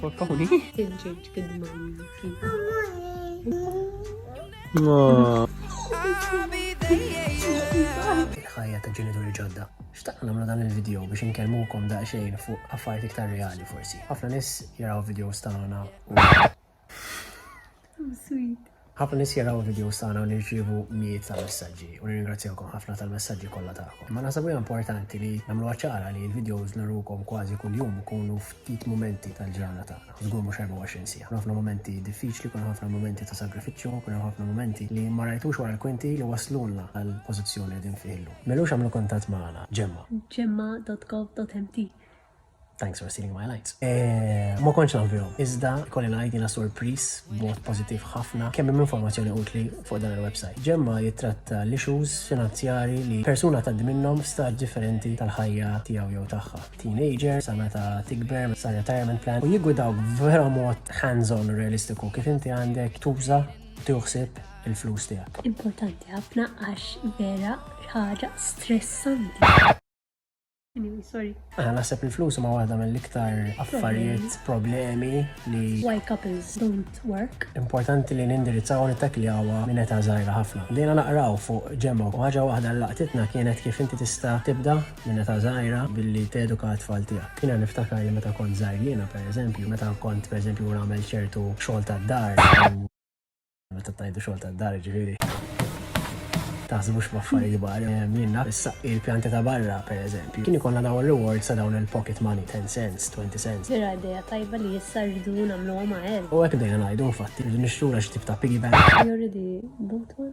Portawni. Tinġiġ kidman. Il-ħajja ta' ġenituri ġodda. Xtaqqa namlu dan il-video biex nkellmukom daqsxejn fuq affarijiet iktar reali forsi. Ħafna nis jaraw videos tagħna Sweet. Ħafna nies jaraw videos tagħna u nirċievu mijiet ta' messaġġi u nirringrazzjawkom ħafna tal-messaġġi kollha tagħkom. Ma naħseb hija importanti li nagħmluha ċara li l-videos narukom kważi kuljum ikunu ftit momenti tal-ġrana tagħna. Żgur mhux 24 sija. Kun ħafna momenti diffiċli, kun ħafna momenti ta' sagrifiċċju, kun ħafna momenti li ma rajtux wara l-kwinti li waslulna għal pożizzjoni li din fiħlu. Melux għamlu kuntatt magħna, ġemma. Ġemma.gov.mt Thanks for stealing my lines. Eh, ma konċ naf bihom, iżda kolli ngħid jiena sorpris b'mod pożittiv ħafna kemm hemm informazzjoni utli fuq dan il-website. Ġemma jitratta l-issues finanzjari li persuna tgħaddi minnhom f'stad differenti tal-ħajja tiegħu jew tagħha. Teenager, sa meta tikber, sa retirement plan, u jigwidaw vera mod hands-on realistiku kif inti għandek tuża tuħsib il-flus tiegħek. Importanti ħafna għax vera ħaġa stressanti. Anyway, sorry. Għana ah, naħseb il-flus ma waħda mill-iktar affarijiet problemi li. Why couples don't work. Importanti li nindirizzaw u nittakli għawa minn eta zaħira ħafna. Dejna naqraw fuq ġemma u ħaġa waħda l-laqtitna kienet kif inti tista tibda minn eta zaħira billi teduka tfal tijak. Kina niftakar li meta kont zaħir jena, per eżempju, meta kont per eżempju għamel ċertu xol ta' dar. Meta tajdu xogħol tad-dar ġifieri. Taħsbux b'affarijiet kbar, eh, minna s-saqqi l-pjanti ta' barra, per eżempju. Kien ikollna dawn rewards sa dawn il-pocket money, 10 cents, 20 cents. Vera ideja tajba li jissa rridu namlu għama għel. U għek dejja najdu, infatti, rridu nixtru għax tip ta' piggy bank. Jorri di button?